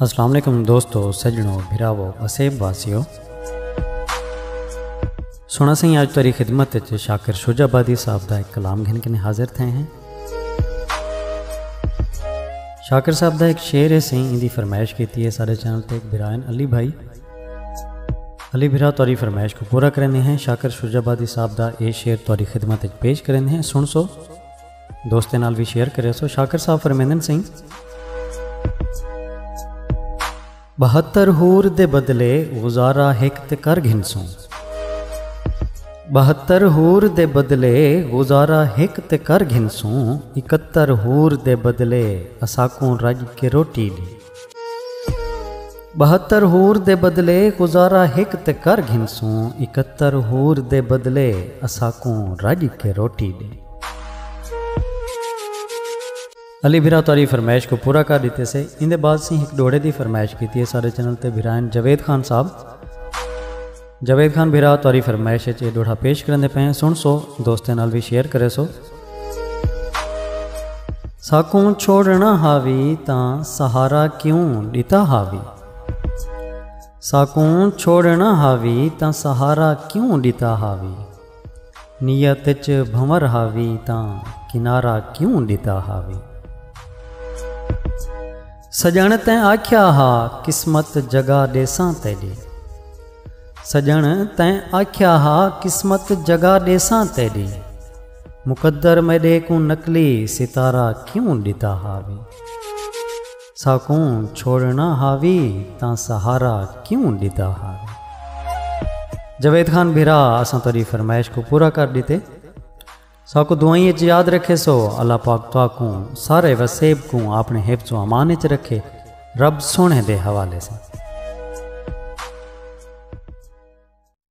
السلام علیکم دوستو سجنو بھراو اسیب واسیو سونا سائیں آج تاری خدمت تے شاکر شوج آبادی صاحب دا ایک کلام گھن کے حاضر تھے ہیں شاکر صاحب دا ایک شعر ہے سائیں ان دی فرمائش کیتی ہے سارے چینل تے ایک بھرائن علی بھائی علی بھرا تاری فرمائش کو پورا کرنے ہیں شاکر شوج آبادی صاحب دا اے شعر تاری خدمت تے پیش کرنے ہیں سن سو دوستیں نال وی شیئر کرے سو شاکر صاحب فرمیندن سئیں بہتر ہور دے بدلے گزارا ہک تے کر گھنسوں بہتر ہور دے بدلے گزارا ہک تے کر گھنسوں اکتر ہور دے بدلے اساکوں رج کے روٹی ڈے ٻہتر حور دے بدلے گزارا ہک تے کر گھنسوں اکہتر حور دے بدلے اساکوں رڄ کے روٹی ݙے۔ علی بھرا تہاݙی فرمائش کوں پورا کر ݙتے سے ایندے بعد سیں ہک ݙوہڑے دی فرمائش کیتی ہے ساݙے چینل تے بھرائن جاوید خان صاحب۔ جاوید خان بھرا تواری فرمائش اچ اے ڈوڑھا پیش کرندے پئے ہیں سن سو دوستیں نال بھی شیئر کرے سو ساکوں چھوڑنا ہاوی تاں سہارا کیوں ڈتا ہاوی ساکوں چھوڑنا ہاوی تاں سہارا کیوں ڈتا ہاوی نیت اچ بھنور ہاوی تاں کنارہ کیوں ڈتا ہاوی۔ سجن تیں آکھیا ہا قسمت جگا ڈیساں تیڈی۔ سجن تیں آکھیا ہا قسمت جگا ڈیساں تیڈی۔ مقدر میڈے کوں نقلی ستارہ کیوں ڈتا ہاوی۔ ساکوں چھوڑنا ہا وی تاں سہارا کیوں ڈتا ہا وی۔ جاوید خان بھرا اساں تہاڈی فرمائش کوں پورا کر ڈتے۔ ساکوں دعائیں اچ یاد رکھیسو۔ اللہ پاک تہاکوں سارے وسیب کوں اپنے حفظ و امان اچ رکھے۔ رب سوہنے دے حوالے ساں۔